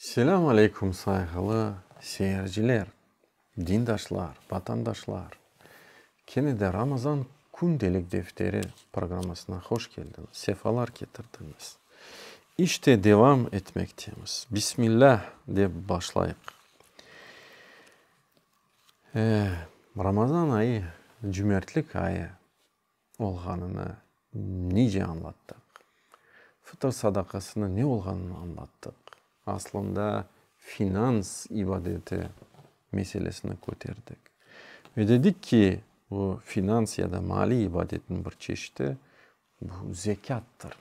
Selâm aleyküm sayğılı seyirciler, dindaşlar, vatandaşlar! Kene de Ramazan kündelik defteri programmasına hoş keldiñiz, sefalar ketirdiñiz. İşte devam etmektemiz. Bismillah dep başlayıq. Ramazan ayı, cümertlik ayı. olğanını nece añlattıq? Fıtır sadaqasınıñ ne olğanını añlattıq. Aslında finans ibadeti meselesini köterdik. Ve dedik ki, bu finans ya da maliy ibadetniñ bir çeşiti, bu zekâttır.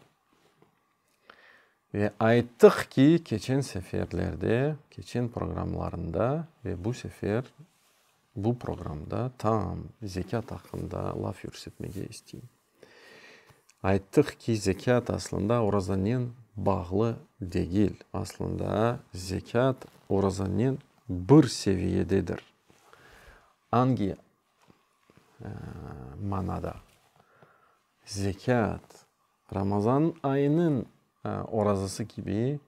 Ve ayttıq ki, keçen seferlerde, keçen programlarında ve bu sefer, Bu programda taam, zekât aqqında laf yürsetmege isteyim. Ayttıq ki, zekât aslında orazanen bağlı degil. Aslında zekât orazanen bir seviyededir. Angi manada? Zekât Ramazan ayınıñ orazası kibi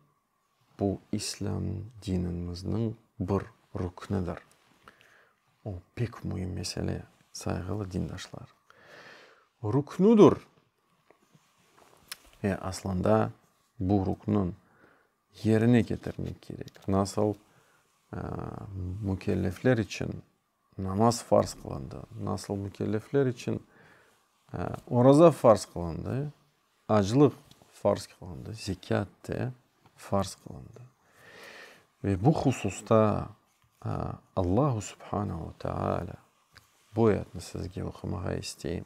Bu İslâm dinimizniñ bir rüknidir. O, pek müim mesele, sayğılı dindaşlar. Rüknidir. Ve aslında bu rükni yerine ketirmek kerek. Nasıl mükellefler içün Namaz farz qılındı. Nasıl mükellefler içün oraza farz qılındı, aclıq farz qılındı, zekât de farz qılındı. Ve bu hususta Allahu subhanahu teâlâ bu ayetni sizge oqumağa isteyim.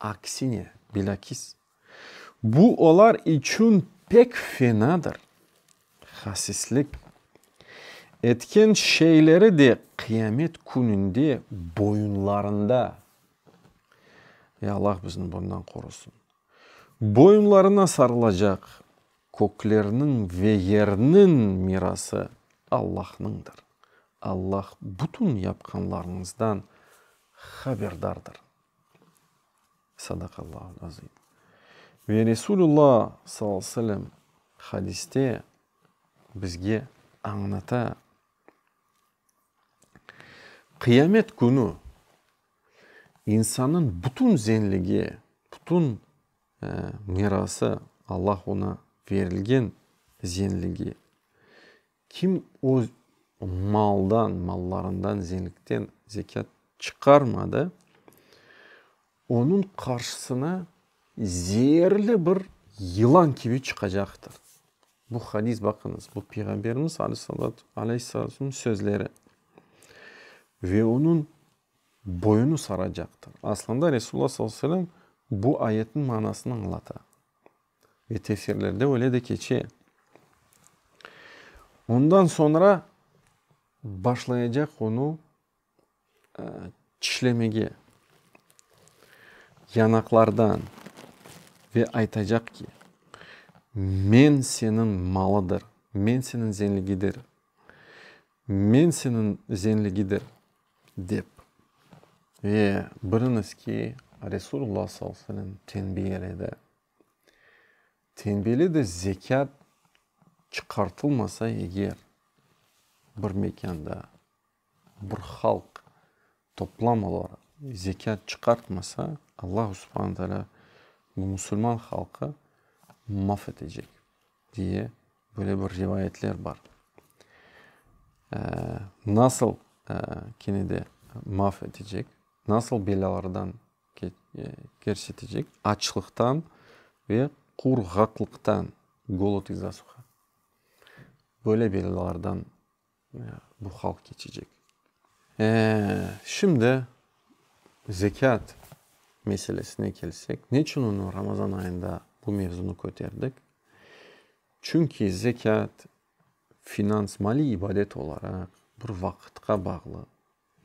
Aksine, bilâkis, bu olar içün pek fenadır. Hasislik, etken şeyleri de Qıyamet Kününde boyunlarında, ey, Allah bizni bundan qorusın, boyunlarına sarılacaq, köklerniñ ve yerniñ mirası Allahnıñdır. Allah bütün yapqanlarıñızdan haberdardır. Sadaqallâhul azim. Ve Resulullo sallallahu aleyhi ve sellem hadiste bizge añlata, Qıyamet künü insannıñ bütün zenligi, bütün mirası, Allah oña berilgen zenligi, Kim öz maldan, mallarından, zenkten zekât çıqarmadı, onıñ qarşısına zeerli bir yılan kibi çıqacaqtır. Bu hadis, baqıñız, bu Peyğamberimiz aleyhisselamnıñ sözleri. Ve onıñ boynunu saracaqtır. Aslında Resulullah sallallahu aleyhi ve sellem bu ayetniñ manasını añlata. Ve tefsirlerde öyle de keçe. Ondan soñra başlayacaq onı çişlemege yanaqlardan ve aytacaq ki, Men seniñ malıdır, men seniñ zenligidir, men seniñ zenligidir, dep. Ve biliñiz ki, Resulullah sallallahu aleyhi ve selem tenbi eledi. Tembeli de zekât çıqartılmasa eger, bir mekânda bir halq toplam olaraq zekât çıqartmasa, Allahu subhane teâlâ bu musulman halqı maf etecek, diye böyle bir rivayetler bar. Nasıl kene de maf etecek, nasıl belâlardan kersetecek, açlıqtan ve qurğaqlıqtan, golod iz-za suha, böyle belalardan bu halq keçecek. Şimdi zekât meselesine kelsek, neçün onı Ramazan ayında bu mevzunı köterdik? Çünki zekât finans, maliy ibadet olaraq bir vaqıtqa bağlı.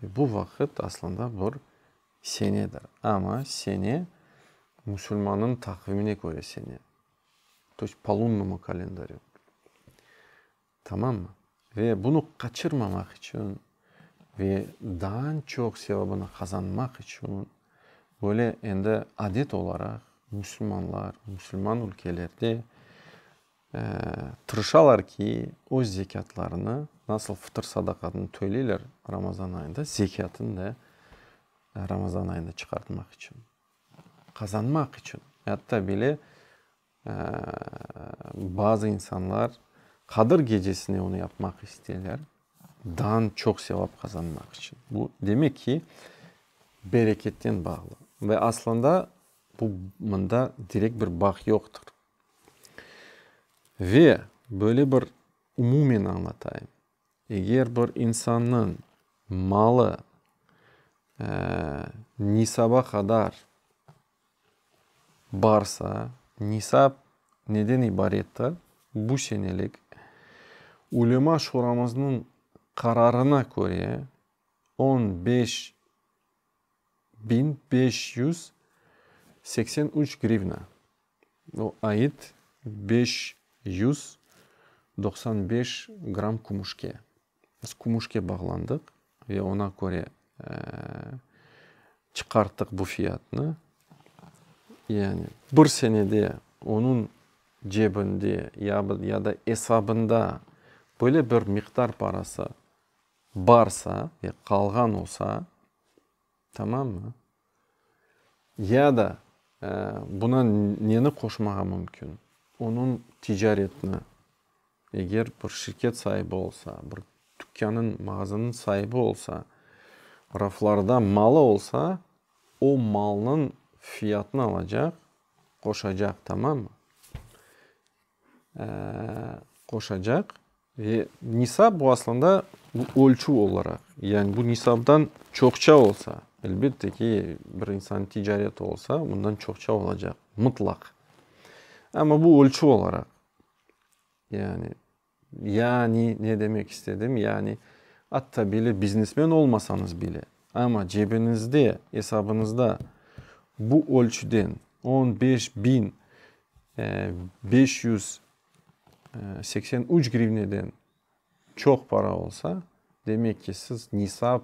Bu vaqıt aslında bir senedir. Amma sene musulmannıñ taqvimine köre sene. To yist po lunnому kalendaryu. Tamammı? Ve bunı qaçırmamaq içün ve daan çoq sevabını qazanmaq içün böyle endi adet olaraq musulmanlar, musulman ülkelerde Tırışalar ki, öz zekâtlarını, nasıl fıtır sadaqatını töleyler Ramazan ayında, zekâtını da Ramazan ayında çıqartmaq içün, qazanmaq içün. Yatta bile bazı insanlar Qadır gecesine onı yapmaq isteyler, dan çoq sevap qazanmaq içün. Bu demek ki, bereketten bağlı. Ve aslında bu, mında direkt bir bağ yoqtır. Ve böyle bir umumen añlatayım, eger bir insannıñ malı nisaba qadar barsa, nisap neden ibarettir, bu senelik ulema şuramıznıñ qararına köre, on beş biñ beş yüz seksen üç grivna, o ait beş yüz doqsan beş gramm kümüşke. Biz kümüşke bağlandıq ve oña köre çıqarttıq bu fiyatnı. Yani bir senede onıñ cebinde ya da esabında böyle bir miqdar parası barsa ve qalğan olsa, tamammı, ya da buna neni qoşmağa mümkün, onıñ ticaretini, eger bir şirket saibi olsa, bir tükânıñ, mağazanıñ saibi olsa, raflarda malı olsa, o malnıñ fiyatını alacaq, qoşacaq, tamammı? qoşacaq ve nisab bu aslında bu ölçüv olaraq, yani bu nisabdan çoqça olsa, elbette ki, bir insan ticareti olsa, bundan çoqça olacaq, mıtlaq. Amma bu ölçüv olaraq, yani, yani ne demek istedim, yani atta bile biznesmen olmasañız bile, amma cebiñizde, esabıñızda bu ölçüden on beş biñ beş yüz seksen üç grivneden çoq para olsa, demek ki, siz nisab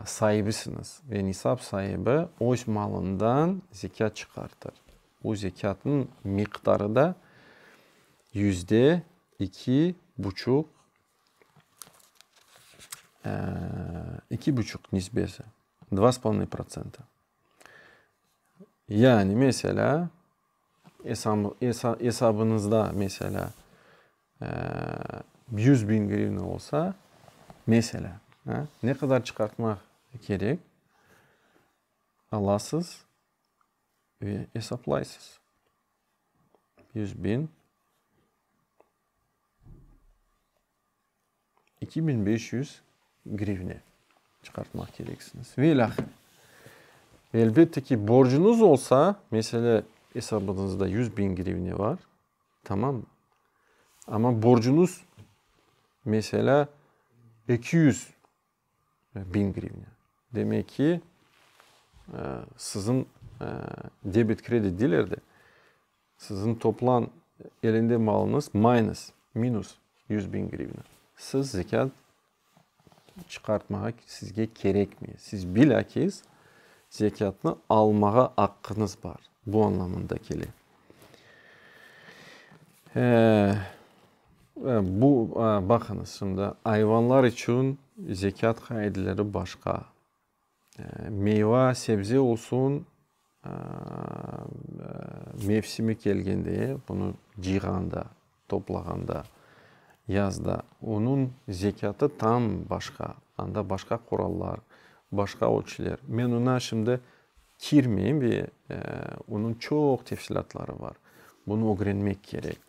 saibisiñiz ve nisab saibi öz malından zekât çıqartır. O zekâtnıñ miqdarı da yüzde iki buçuq, iki buçuq nisbesi, dva s polonıy protsenta. Yani, meselâ, esabınızda, meselâ, yüz biñ grivna olsa, meselâ, ne qadar çıqartmaq kerek, alasız ve esaplaysız. Yüz biñ. İki biñ beş yüz grivne çıqartmaq kereksiñiz. Ve ilâhre. Elbette ki, borcuñız olsa, mesele, esabıñızda yüz biñ grivne bar, tamam. Amma borcuñız, meselâ, eki yüz. Biñ grivne. Demek ki, siziñ debet kredit diler de, siziñ toplan elinde malıñız mayıñız, minus yüz biñ grivne. Siz zekât çıqartmağa sizge kerekmey. Siz bilâkiz zekâtnı almağa aqqıñız bar. Bu añlamında kele. Bu, baqıñız şimdi, ayvanlar içün zekât qaideleri başqa. Meyva, sebze olsun, mevsimi kelgende, bunı cıyğanda, toplağanda, yazda, onıñ zekâtı tam başqa, anda başqa qurallar, başqa ölçüler. Men oña şimdi kirmeyim, onıñ çoq tefsilâtları bar, bunı ögrenmek kerek.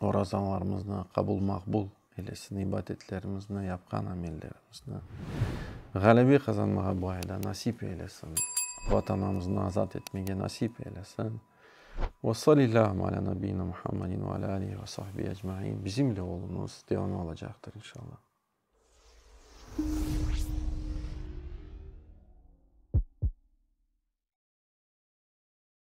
orazanlarımıznı, qabul-maqbul eylesın, ibadetlerimizni, yapqan amellerimizni, ğalebe qazanmağa bu ayda nasip eylesın, Vatanımıznı azat etmege nasip eylesın. Ve salillâhum alâ nabiyyina Muhammedin ve alâ alihi ve sahbihi ecmaîn. Bizimle oluñız, devamı olacaqtır inşallah.